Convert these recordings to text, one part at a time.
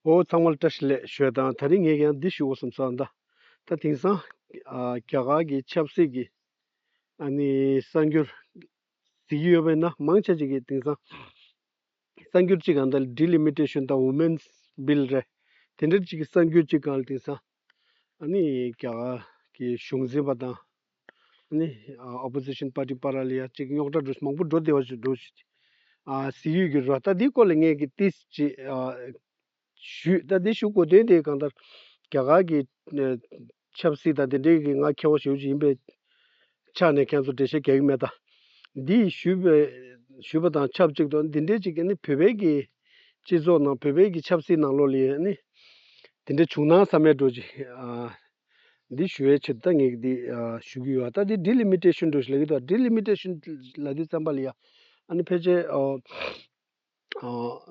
ཨོའོ་ཚང་མར་བཀྲ་ཤིས་ལེགས་ཤོས་དང་ད་རིང་ངས་ཀྱང་འདི་ཞུ་འོ་བསམ་སར་འདའ། ད་དེང་སང་རྒྱ་གར་གྱི་ཆབ་སྲིད་ཀྱི་ཨ་ནི་གསར་འགྱུར་གཟིགས་ཀྱི་ཡོད་པས་ན་མང་ཆེ་གཅིག་གིས་དེང་སང་གསར་འགྱུར་གཅིག་གང་འདའ་ལི་ལི་མི་ཏྲེ་ཤོན་དང་ཝུ་མེན་སི་བིལ་རེད། དེ་འདྲ་གཅིག་གིས་གསར་འགྱུར་གཅིག་གང་ལ་དེང་སང། ཨ་ནི་རྒྱ་གར་གྱི་གཞུང་འཛིན་པ་དང་ཨ་ནི Opposition Party པ་ར་ལི་ཡ་གཅིག་རྙོག་དྲ་འགྲོ་མང་པོ་འགྲོ་བདེ་བ་ཞིག་འགྲོ་ཞིག། ཨ་སི་ཡུས་ཀྱི་ར་ལྟ་དེའི་སྐོར་ལ་ངས་ཀྱི་ཏི་ཅི་ཨ་ཞུས་ལྟ་དེ་ཞུ་དགོས་དོན་དེ་གང་ལྟར་རྒྱ་གར་གྱི་ཆབ་སྲིད་དང་དེ་འབྲེལ་གྱི་ང་མཁས་པ་ཞིག་ཡོད་ཅིག་ཡིན་པས། ཕྱག་ནས་ཁྱེད་ཚོ་བྲེལ་ཤེས་གེགས་མེད་དང། འདི་ཞུས་པ་དང་ཆབས་ཅིག་ཏུ་འདི་འདྲའི་ཅིག་བོད་པའི་གི་སྤྱི་ཚོགས་ནང་བོད་པའི་གི་ཆབ་སྲིད་ནང་ལོ་ལི་ནི་འདི་འདྲ་བྱུང་ན་བསམ་མེད་འགྲོ་ཅིག་འདི་ཞུ་བའི་ཆེད་དུ་ད་ངས་ཀྱི་འདི་ཞུ་གི་ཡོད་ད་འདི་འདྲི་ལི་མི་བྲེལ་ཤུན་འགྲོ་ཞིག་ལ་གི་འདྲི་ལི་མི་བྲེལ་ཤུན་ལ་གི་བསམ་པ་ལི་ཡ་ཨ་ནི་ཕལ་ཆེར།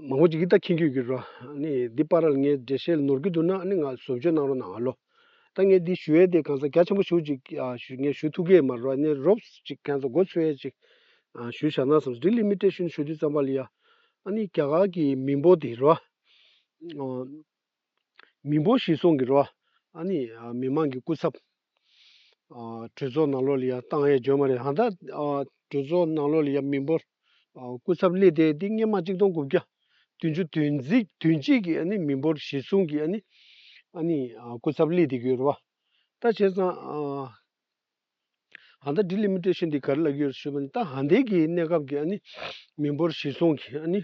མང་པོ་ཅིག་གིས་ད་ཁྱེད་ཁྱོད་ཀྱི་རོ། ནི་འདི་པར་རལ་ངའི་འགྲེལ་བཤད་ནོར་གྱི་འདུག་ན་ནི་ང་བཟོ་བཅོས་གནང་རོགས་གནང་ཨ་ལོ། ད་ངས་འདི་ཞུ་ཡས་དེ་གང་ཟག་རྒྱ་ཆེན་པོ་ཞུ་ཅིག་ངས་ཞུ་ཐུག་གས་མ་རོ་ནི་རོབས་ཅིག་གན་ཟག་སྒོ་འཚོལ་ཡས་ཅིག་ཞུ་བཞག་ན་སམ་འདི་ལི་མི་ཏྲེ་ཞུ་ནི་ཞུ་དུས་ཙམ་པ་ལི་ཡ། ནི་རྒྱ་གར་གྱི་མི་འབོ་དེ་རོ། མི་འབོར་ཞིག་སོང་གི་རོ། ཨ་ནི་མི་དམངས་ཀྱི་སྐུ་ཚབ། གྲོས་ཚོགས་ནང་ལོགས་ལ་ཡང་བཏང་ཡས་འཇོན་མ་རེད་ཧང་ད། གྲོས་ཚོགས་ནང་ལོགས་ལ་ཡང་མི་འབོར་སྐུ་ཚབ་སླེབས་ཏེ་འདི་སྔན་མ་གཅིག་སྟོང་དགུ་བརྒྱ་བདུན་ཅུ་དུས་འཛིགས་དུས་གཅིག་གི་ཨ་ནི་མི་འབོར་གཞི་སྲུང་གི་ཨ་ནི། ཨ་ནི་སྐུ་ཚབ་སླེབས་ཏེ་གི་རོ། ད་བྱས་ཙང། ཨ་མདའ་འདི་ལས་མི་སྤྲད་ཕྱིར་འདི་གར་བླགས་ཡོད་ཞེས་པ་ནི་ད་ཧ་འདས་ཀྱི་གནས་སྐབས་ཀྱི་ཨ་ནི་མི་འབོར་བཞི་སོང་གི་ཨ་ནི་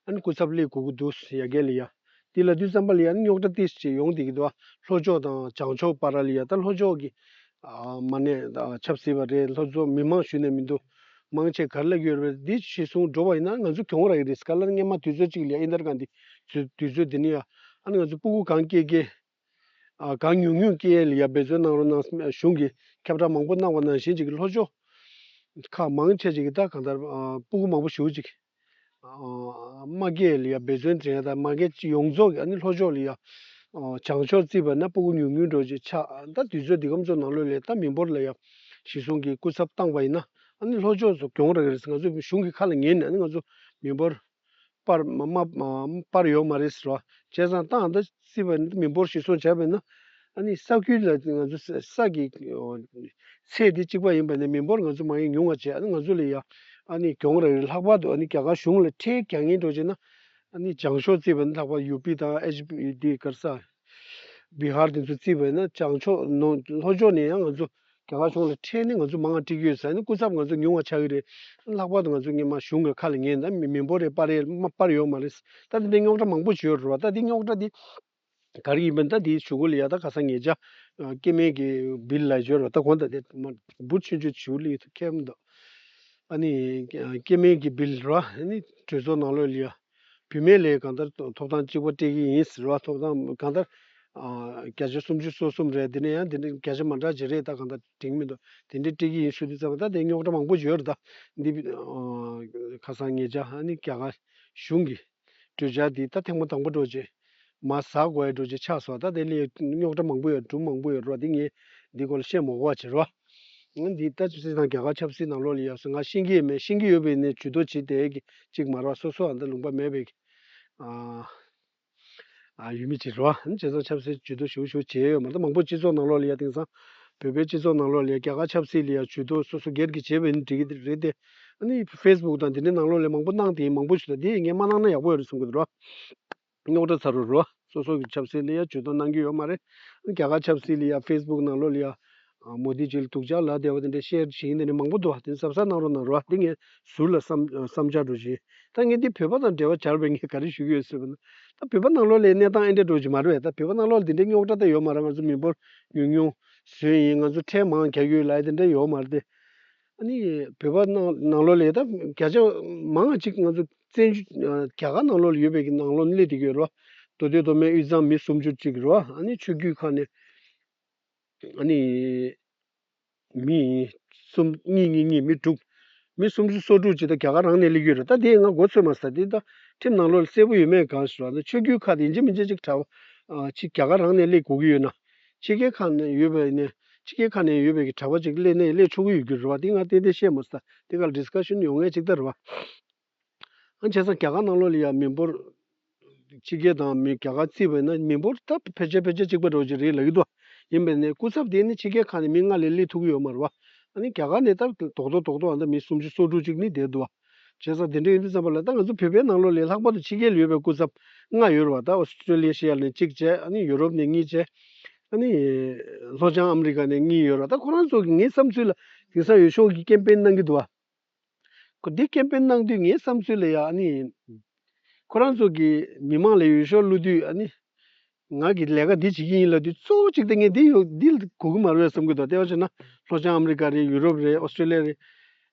ཨ་ནི་སྐུ་ཚབ་གླེ་དགོས་ཀྱི་འདུག་ཡ་གལ་ལ་ཡ། འདི་ལ་དུས་བརྩམས་པ་ལ་ཡ་ནི་རྙོག་དྲ་ཏིས་ཅེས་ཡོང་འདི་གི་དུ་བ་ལྷོ་ཕྱོགས་དང་བྱང་ཕྱོགས་པ་ར་ལི་ཡ་ད་ལྷོ་ཕྱོགས་ཀྱི་མ་ནས་ཁྱབ་སྲིད་པ་རེད་ལྷོ་ཕྱོགས་མི་མང་ཞུ་ནས་མི་འདུག་མང་ཆེ་གར་བླགས་ཡོད་རེད་འདི་ཞེས་གསུངས་འགྲོ་བ་ཡིན་ན་ང་ཚོ་གྱོང་རག་གི་རེད་སྐ་ལར་སྔན་མ་དུས་ཚོད་གཅིག་ལ་ཡ་ཨི་འདར་ག་འདི་དུས་ཚོད་འདི་ནི་ཡ་ཨ་ནི་ང་ཚོ་སྤུ་གུ་གང་སྐྱེས་སྐྱེས། གང་ཉུང་ཉུང་སྐད་ཡིག་ལ་ཡར་འབད་བརྩོན་གནང་རོགས་གནང་སེམས་གཞུང་གིས་ཁྱབ་བསྒྲགས་མང་པོ་གནང་བ་ནང་བཞིན་ཅིག་ལྷོ་ཕྱོགས་ཁག་མང་ཆེ་ཅིག་གིས་ད་གང་ལྟར་སྤུ་གུ་མང་པོ་ཞུ་ཅིག། དམག་སྐད་ཡིག་ལ་ཡར་འབད་བརྩོན་དྲན་དང་དམག་སྐད་སྤྱི་ཡོངས་རྫོགས་ཀྱི་ཨ་ནི་ལྷོ་ཕྱོགས་ལ་ཡར་བྱང་ཕྱོགས་བརྩིས་པ་ན་སྤུ་གུ་ཉུང་ཉུང་འགྲོ་ཅིག་ཆ་ད་དུས་ཚོད་འདི་གམ་ཚོ་ནང་ལོས་ལས་ད་མི་འབོར་ལ་ཡར་གཞིས་སྲུང་གིས་སྐུ་ཚབ་བཏང་བ་ཡིན་ན་ཨ་ནི་ལྷོ་ཕྱོགས་སུ་གྱོང་རག་གི་རེད་ང་ཚོ་གཞུང་གི་ཁ་ལ་ཉན་ནས་ཨ་ནི་ང་ཚོ་མི་འབོར། པར་པར་ཡོད་མ་རེད་ཟེར་བ། བྱས་ཙང་ཏང་འདི་སྲིད་པ་འདི་མི་འབོར་ཞིག་སོང་བྱས་པས་ན། ཨ་ནི་ས་ཁུལ་ལ་ང་ཚོ་ས་ཀྱི་ཚད་དེ་གཅིག་པ་ཡིན་པས་ན་མི་འབོར་ང་ཚོ་མང་ཡང་ཉུང་བ་བྱས་ཨ་ནི་ང་ཚོ་ལ་ཡང་ཨ་ནི་གྱོང་རག་རེད་ལྷག་པར་དུ་ཨ་ནི་རྒྱ་གར་གཞུང་ལ་ཁྲལ་གྱང་ངན་འགྲོ་བྱས་ན། ཨ་ནི་བྱང་ཕྱོགས་བརྩིས་པ་ནི་ལྷག་པར་ཡུ་པི་དང་ཨེ་ཇི་པི་དེ་གར་ས། བི་ཧར་དེ་ཚོ་བརྩིས་པས་ན་བྱང་ཕྱོགས་ནང་ལྷོ་ཕྱོགས་ནས་ཡང་ང་ཚོ་རྒྱ་གར་གཞུང་ལ་ཁྲལ་ནི་ང་ཚོ་མང་ང་སྤྲད་ཀྱི་ཡོད་ས་ནི་སྐུ་ཚབ་ང་ཚོ་ཉུང་བ་ཆགས་ཀྱི་རེད། ལྷག་པར་དུ་ང་ཚོ་ངེད་མ་གཞུང་གི་ཁ་ལ་ཉན་ད་མི་མི་འབོར་རེ་སྤར་ཡས་མ་སྤར་ཡོད་མ་རེད། ད་དེ་འདྲའི་རྙོག་དྲ་མང་པོ་བྱེད་རོལ་བ་ད་དེ་རྙོག་དྲ་དེ་ག་རེ་ཡིན་པ་ད་དེའི་ཇུས་འགོད་ལ་ཡག་ད་ག་ས་ངེད་ཅག་སྐྱེ་དམན་གྱི་བིལ་ལ་བྱོས་རོགས་ད་གོང་ད་དེ་མ་འབུར་ཆུན་ཆུན་བྱིའུ་ལི་ཡི་ཐུགས་ཁྱད་མ་འདུག་ཨ་ནི་སྐྱེ་དམན་གྱི་བིལ་རོ་ཨ་ནི་གྲོས་ཚོགས་ནང་ལོགས་ལ་ཡོད། བུད་མེད་ལས་གང་ལྟར་ཐོབ་ཐང་གཅིག་པ་སྤྲད་ཀྱི་ཡིན་ཟེར་བ་ཐོབ་ཐང་གང་ལྟར་བརྒྱ་ཆ་སུམ་ཅུ་སོ་གསུམ་རེད་དེ་ནས་ཡང་དེ་འདྲ་བརྒྱ་ཆ་མ་འདྲ་བྱེད་རེས་ད་གང་ལྟར་དྲན་གྱི་མི་འདུག་དེ་འདྲས་སྤྲད་ཀྱི་ཡིན་ཟུར་དུ་བཙལ་བ་ད་དེ་རྙོག་དྲ་མང་པོ་བརྗོད་རེས་ད་འདི་ཁ་སང་ངེད་ཅག་ཧ་ནི་རྒྱ་གར་གཞུང་གི་གྲོས་འཆར་འདི་ད་ཐེངས་མ་དང་པོ་སྒྲོག་རྗེས། མ་ཟག་གོ་ཡའི་འགྲོ་ཆས་ཆགས་སོང་ད་དེ་ལས་རྙོག་དྲ་མང་པོ་ཡོད་གྲུབ་མང་པོ་ཡོད་རོགས་དེ་ངས་འདི་སྐོར་ལ་བཤད་མོག་བ་བྱེད་རོགས། ང་འདི་ལྟ་ཅི་དང་རྒྱ་གར་ཆབ་སྲིད་ནང་ལོག་ལས་ཡོད་སོང་ང་ཤེས་ཀྱི་ཡོད་མེད་ཤེས་ཀྱི་ཡོད་པའི་ནས་ཇུས་གཏོགས་བྱེད་དེ་གི་ཅིག་མ་རོགས་སོ་སོ་ཨ་མདའ་ལུང་པ་མེད་པའི་ཨ་ཡུལ་མི་བྱེད་རོགས་ཨ་ཅེ་སང་ཆབ་སྲིད་ཇུས་གཏོགས་ཞུ་ཞུ་བྱེད་ཡོད་མ་ད་མང་པོ་སྤྱི་ཚོགས་ནང་ལོག་ལས་ཡ་དེང་སང་བོད་པའི་སྤྱི་ཚོགས་ནང་ལོག་ལས་ཡ་རྒྱ་གར་ཆབ་སྲིད་ལས་ཡ་ཇུས་གཏོགས་སོ་སོ་སྒེར་གྱི་བྱེད་པའི་ནི་འགྲིག་གི་རེད་དེ་ནི facebook དང་དེ་འདྲའི་ནང་ལོག་ལས་མང་པོ་སྣང་དེ་མང་པོ་ཞིག་ལ་དེ་ངས་མ་གནང་ན་ཡག་པོ་ཡོད་རེད་གསུང་གི་འདུག་རོ། རྙོག་དྲ་ཚ་རུ་རུ། སོ་སོ་གི་ཆབ་སྲིད་ལ་ཡ་བྱོལ་སྟངས་གནང་གི་ཡོད་མ་རེད། རྒྱ་གར་ཆབ་སྲིད་ལ་ཡ facebook ནང་ལོག་ལ་ཡ། མོ་དྷི་ཇི་ལ་དུག་ཅག་ལ་དེ་བ་དེ་འདྲའི་ཤེར་བྱིན་དེ་འདྲ་མང་པོ་འདུག་བ་དེ་གཟབ་གཟབ་གནང་རོགས་གནང་རོགས་དེ་ངས་ཟུར་ལ་བསམ་བསམ་འཆར་འགྲོ་བཞིན། ད་ངས་འདི་བོད་པ་དང་འབྲེལ་བ་བྱར་བས་ངས་ག་རེ་ཞུ་གི་ཡོད་ཟེར་བ་ན། ད་བོད་པ་ནང་ལོག་ལའི་གནས་སྟངས་ཨེ་འདྲ་འགྲོ་བཞིན་མ་རེད་ད་བོད་པ་ནང་ལོག་ལ་དེ་འདྲའི་རྙོག་དྲ་དེ་ཡོད་མ་རེད་ང་ཚོ་མི་འབོར་ཉུང་ཉུང་ཟོན་ཡིན་ང་ཚོ་ཁྲལ་མང་རྒྱག་གི་ཡོད་ལ་ཨེ་དེ་འདྲ་ཡོད་མ་རེད་དེ། ཨ་ནི་བོད་པ་ནང་ལོགས་ལས་ད་བརྒྱ་ཆ་མང་ང་གཅིག་ང་ཚོ་བཙན་བྱོལ་རྒྱ་གར་ནང་ལོགས་ལ་ཡོད་པའི་ནང་ལོགས་གནས་འདི་གི་རེད་བ། མདོ་སྟོད་མདོ་སྨད་དབུས་གཙང་མི་སུམ་ཅུ་གཅིག་རེད་བ་ཨ་ནི་ཆོས་བརྒྱུད་ཁག་ནས་ཨ་ནི་མི་གསུམ་གཉིས་གཉིས་གཉིས་མི་དྲུག་མི་སུམ་ཅུ་སོ་དྲུག་ཅིག་ད་རྒྱ་གར་རང་ནས་སླེབས་ཡོད་རེད་ད་དེ་ཡིན་ང་མགོ་ཚོས་མ་ཟ་དེ་ད་ཁྲིམས་ནང་ལོགས་ལ་གསལ་པོ་ཡོད་མེད་གང་ཞིག་རེད་བ་ད་ཆོས་བརྒྱུད་ཁག་དེ་ཡིན་གཅིག་མིན་གཅིག་ཅིག་གྲགས་པ་ཅིག་རྒྱ་གར་རང་ནས་སླེབས་གོ་གི་ཡོད་ན། ཕྱི་རྒྱལ་ཁག་ནས་ཡོད་པའི་ནས་ཕྱི་རྒྱལ་ཁག་ནས་ཡོད་པའི་གི་གྲྭ་པ་ཅིག་གླེ་ནས་གླེ་ཆོག་གི་ཡོད་རྒྱུ་རེད་བ་དེ་ང་ཏན་ཏན་བཤད་མི་ས་དེ་ག་ལ discussion ཡོང་ངེས་ཅིག་ད་རེད་བ། ཨང་བྱས་ཙང་ག་ག་ནང་ལོག་ལ་ཡང་མི་འབོར་ཕྱི་རྒྱལ་དང་མི་ག་ག་བརྩིས་པས་ན་མི་འབོར་ད་ཕལ་ཆེར་ཕལ་ཆེར་གཅིག་པ་འགྲོ་གི་རེད་ལ་ཡོད་དོ། ཡིན་པས་ནས་སྐུ་ཚབ་དེ་ནི་ཕྱི་རྒྱལ་ཁག་ནས་མི་ལྔ་ལས་གླེ་ཐུག་གི་ཡོད་མ་རེད་བ། ཨ་ནི་ག་ག་ནས་ད་དོག་དོག་དོག་དོག་ཨ་ན་མི་སུམ་ཅུ་སོ་དྲུག་ཅིག་ནི་བསྡད་འདུག་བ། བྱས་ཙང་དེ་འདྲ་ཡིན་དུས་བརྩམས་པ་ལ་ད་ང་ཚོ་བོད་པའི་ནང་ལོགས་ལས་ལྷག་པར་དུ་ཕྱི་རྒྱལ་ལ་ཡོད་པའི་སྐུ་ཚབ་ལྔ་ཡོད་རེད་བ་ད Australia ནས་གཅིག་བྱས་ཨ་ནི Europe ནས་གཉིས་བྱས་ཨ་ནི་ལྷོ་བྱང America ནས་གཉིས་ཡོད་རེད་བ་ད་ཁོ་རང་ཚོ་གིས་ངའི་བསམ་ཚུལ་ལ་དེང་སང་ཡོད་ཤོག་གིས Campaign གནང་གི་འདུག་བ། ཁོ་དེ Campaign གནང་དུས་ངའི་བསམ་ཚུལ་ལ་ཡང་ཨ་ནི་ཁོ་རང་ཚོ་གིས་མི་མང་ལ་ཡོད་ཤོག་བླུ་དུས་ཨ་ནི་ངག་གི་ལས་ཀ་འདི་བྱེད་ཀྱི་ཡིན་ལབ་དུས་གཙོ་བོ་གཅིག་དེ་ངས་འདི་ཡོད་འདི་གོ་གི་མ་རེད་བསམ་གྱི་འདུག་ལྟེ་བ་བྱས་ན་ལྷོ་བྱང་ཨ་མི་རི་ཀ་རེད་ཡུ་རོབ་རེད་ཨོ་སི་ཏྲེ་ལེ་རེད།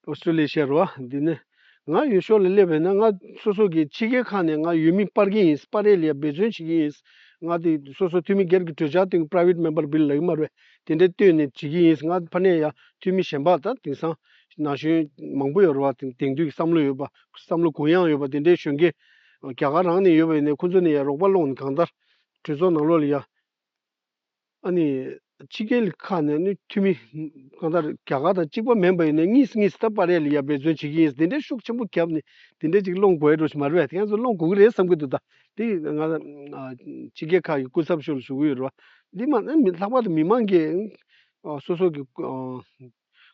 ཨོ་སི་ཏྲེ་ལེ་ཤར་བ་འདི་ནས་ང་ཡོད་ཕྱོགས་ལ་སླེབས་པས་ན་ང་སོ་སོ་གི་ཕྱི་རྒྱལ་ཁག་ནས་ང་ཡུལ་མི་སྤར་གྱི་ཡིན་སྤར་རེས་ལ་འབད་བརྩོན་བྱེད་ཀྱི་ཡིན། ང་དེ་སོ་སོ་འཐུས་མི་སྒེར་གྱི་གྲོས་འཆར་སྟེང Private Member Bill ལབ་ཀྱི་མ་རེད་དེ་འདྲ་བཏོན་ནས་བྱེད་ཀྱི་ཡིན་ང་ཕ་ནས་ཡང་འཐུས་མི་གཞན་པ་དང་དེང་སང་ན་གཞོན་མང་པོ་ཡོད་རེད་བ་དེང་དུས་ཀྱི་བསམ་བློ་ཡོད་པ་བསམ་བློ་གུ་ཡངས་ཡོད་པ་དེ་འདྲའི་གཞོན་སྐྱེས་རྒྱ་གར་རང་ནས་ཡོད་པའི་ནས་ཁོང་ཚོ་ནས་ཡ་རོགས་པ་སློང་ནས་གང་ལྟར་གྲོས་ཚོགས་ནང་ལོགས་ལ་ཡ། ཨ་ནི་ཕྱི་རྒྱལ་ཁག་ནས་ནི་འཐུས་མི་གང་ལྟར་རྒྱ་གར་དང་གཅིག་པ་མེན་པ་ཡོད་ནས་གཉིས་སུ་གཉིས་སུ་ད་པ་རེད་ལ་ཡ་འབད་བརྩོན་བྱེད་ཀྱི་ཡིན་དེ་འདྲའི་ཤུགས་ཆེན་པོ་བརྒྱབ་ནས་དེ་འདྲའི་ཅིག་སློང་དགོས་ཡ་འགྲོ་ཞིག་མ་རེད་བ་དེ་ཡང་ཚོ་སློང་དགོས་ཀྱི་རེད་བསམ་གྱི་འདུག་ད་དེ་ཡིན་ང་ཕྱི་རྒྱལ་ཁག་གི་སྐུ་ཚབ་ཤོར་ལ་ཞུ་གི་ཡོད་རེད་བ། འདི་མ་ནི་མི་ལྷག་པར་དུ་མི་མང་གི། སོ་སོ་གི།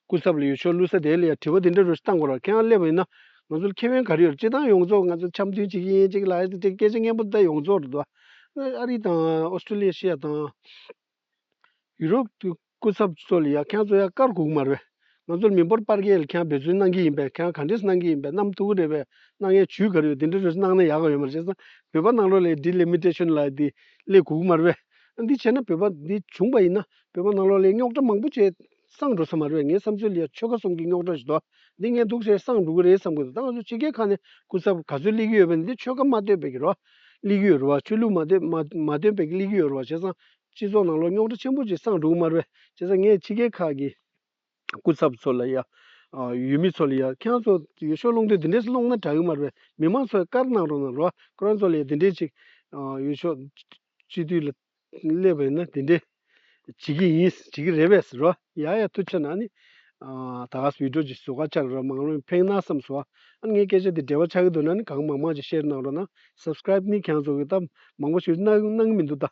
སྐུ་ཚབ་ལ་ཡོད་ཆོག་བླུ་ས་དེ་ལ་ཡང་དྲི་བ་འདི་འདྲ་རུ་བཏང་དགོས་ར་ཁྱེད་རང་སླེབས་པ་ཡིན་ན་ང་ཚོ་ལ་ཁྱད་བོན་ག་རེ་ཡོད་ར་སྤྱི་བཏང་ཡོངས་རྫོགས་ང་ཚོ་འཆམ་མཐུན་བྱེད་ཀྱི་ཡིན་གཅིག་ལ་ཅིག་སྐད་ཆ་སྙན་པོ་འདི་ཡོངས་རྫོགས་ར་འདུག་ཨ་རི་དང་ཨོ་སྟྲེ་ལི་ཡ་ཤི་ཡ་དང་ཡུ་རོབ་ཀྱི་སྐུ་ཚབ་ཚོ་ལ་ཡང་ཁྱེད་རང་ཚོ་ཡང་དཀར་གུག་མ་ར་བས་ང་ཚོ་ལ་མི་འབོར་སྤར་གས་ལ་ཁྱེད་རང་འབད་བརྩོན་གནང་གི་ཡིན་པས་ཁྱེད་རང་ག་འདྲེས་གནང་གི་ཡིན་པས་གནམ་ཐུག་གི་རེད་བས་གནང་ཡས་བྱུས་ག་རེ་ཡོད་འདི་འདྲ་རུ་གནང་ན་ཡག་ག་ཡོད་མ་ར་བྱས་ཙང་བོད་པ་ནང་ལོགས་ལས་འདི་ལས་མི་འདྲེ་ཆོད་ན་ལ་ཡ་འདི་ལས་གུག་མ་ར་བས་འདི་བྱས་ན་བོད་པ་འདི་བྱུང་པ་ཡིན་ན་བོད་པ་ནང་ལོགས་ལས་རྙོག་དྲ་མང་པོ་བྱས། སང་འགྲོ་ས་མ་རེད་བས་ངའི་བསམ་ཚུལ་ལ་ཡང་ཆོལ་ཁ་གསུམ་གྱི་རྙོག་དྲ་ཞིག་འདུག་འདི་ངས་སྡུག་ཟེར་སང་འགྲོ་གི་རེད་བསམ་གྱི་འདུག་ད་ང་ཚོ་སྤྱི་སྒེར་ཁག་ནས་སྐུ་ཚབ་ག་ཚོད་གླེགས་ཀྱི་ཡོད་བས་འདི་ཆོལ་ཁ་མ་བསྟོད་པའི་གི་རོ། གླེགས་ཀྱི་ཡོད་རེད་བ་ཆོས་ལུགས་མ་བསྟོད་མ་མ་བསྟོད་པའི་གི་གླེགས་ཀྱི་ཡོད་རེད་བ་བྱས་སང་སྤྱི་ཚོགས་ནང་ལོག་རྙོག་དྲ་ཆེན་པོ་ཅིག་སང་འགྲོ་གི་མ་རེད་བས་བྱས་སང་ངས་སྤྱི་སྒེར་ཁག་གི་སྐུ་ཚབ་ཚོ་ལ་ཡང། ཡུལ་མི་ཚོ་ལ་ཡང་ཁྱེད་རང་ཚོ་ཡོ་ཤོ་སློང་དུས་འདི་འདྲས་སློང་ན་དྲག་གི་མ་རེད་བས་མི་མང་ཚོ་ཡང་བཀར་གནང་རོགས་གནང་རོགས། ཁོ་རང་ཚོ་ལ་ཡང་འདི་འདྲས་ཅིག། ཡོ་ཤོ། སྤྱི་འཐུས་ལ། སླེབས་པ་ཡིན་ན་དེ་འདྲས་བྱེད་ཀྱི་ཡིན་བྱེད་ཀྱི་རེད་བས་རོ། ཡ་ཡ་ཐུགས་ཆེ་ན་ནི། ད་ག་བིད་འགྲོ་ཅིག་བཟོ་ག་ཆག་རོ་མང་ལོ་ཡིན་ཕེང་ན་བསམ་སོ། ཨ་ནི་ངའི་སྐད་ཆ་དེ་འབྲེལ་བ་ཆག་གི་འདུག་ན་ནི་གང་མང་མང་ཅིག་ཤེར་གནང་རོགས་གནང Subscribe ནི་གྱང་བཟོ་གི་ད་མང་པོ་ཞིག་གནང་གནང་གི་མི་འདུག་ད་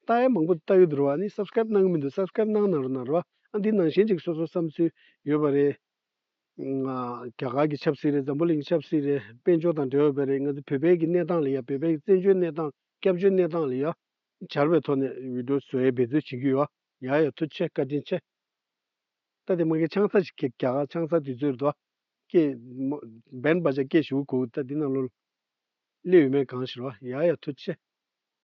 ད་ཡ་མང་པོ་ལྟ་གི་འདུག་རོ་ཨ་ནི Subscribe གནང་གི་མི་འདུག Subscribe གནང་གནང་རོགས་གནང་རོགས་ཨ་འདི་ནང་བཞིན་ཅིག་སོ་སོ་བསམ་ཚུལ་ཡོད་པ་རེད། རྒྱ་གར་གྱི་ཆབ་སྲིད་རེད་འཛམ་བུ་གླིང་གི་ཆབ་སྲིད་རེད་དཔལ་འབྱོར་དང་འབྲེལ་བ་བོད་རེད་ང་ཚོ་བོད་པའི་གི་གནས་སྟངས་ལ་ཡ་བོད་པའི་བཙན་བྱོལ་གནས་སྟངས་སྐྱབས་བཅོལ་གནས་སྟངས་ལ་ཡ་བྱར་བའི་ཐོག་ནས་འུད་སྒྲོག་བཟོ་ཡ་འབད་བརྩོན་བྱེད་ཀྱི་ཡོད་ཡ་ཡ་ཡ་ཐུགས་ཆེ་བཀའ་དྲིན་ཆེ། ད་དེ་མ་གི་ཆང་ས་ཞིག་གི་རྒྱ་གར་ཆང་ས་དུས་ཚོད་རེད་དོ། སྐད། འབན་སྦ་ཆ་སྐད་ཞུ་གུ་གུ་ད་དེ་ནང་ལོ། གླེ་ཡོད་མེད་གང་ཞིག་རོ་ཡ་ཡ་ཐུགས་ཆེ།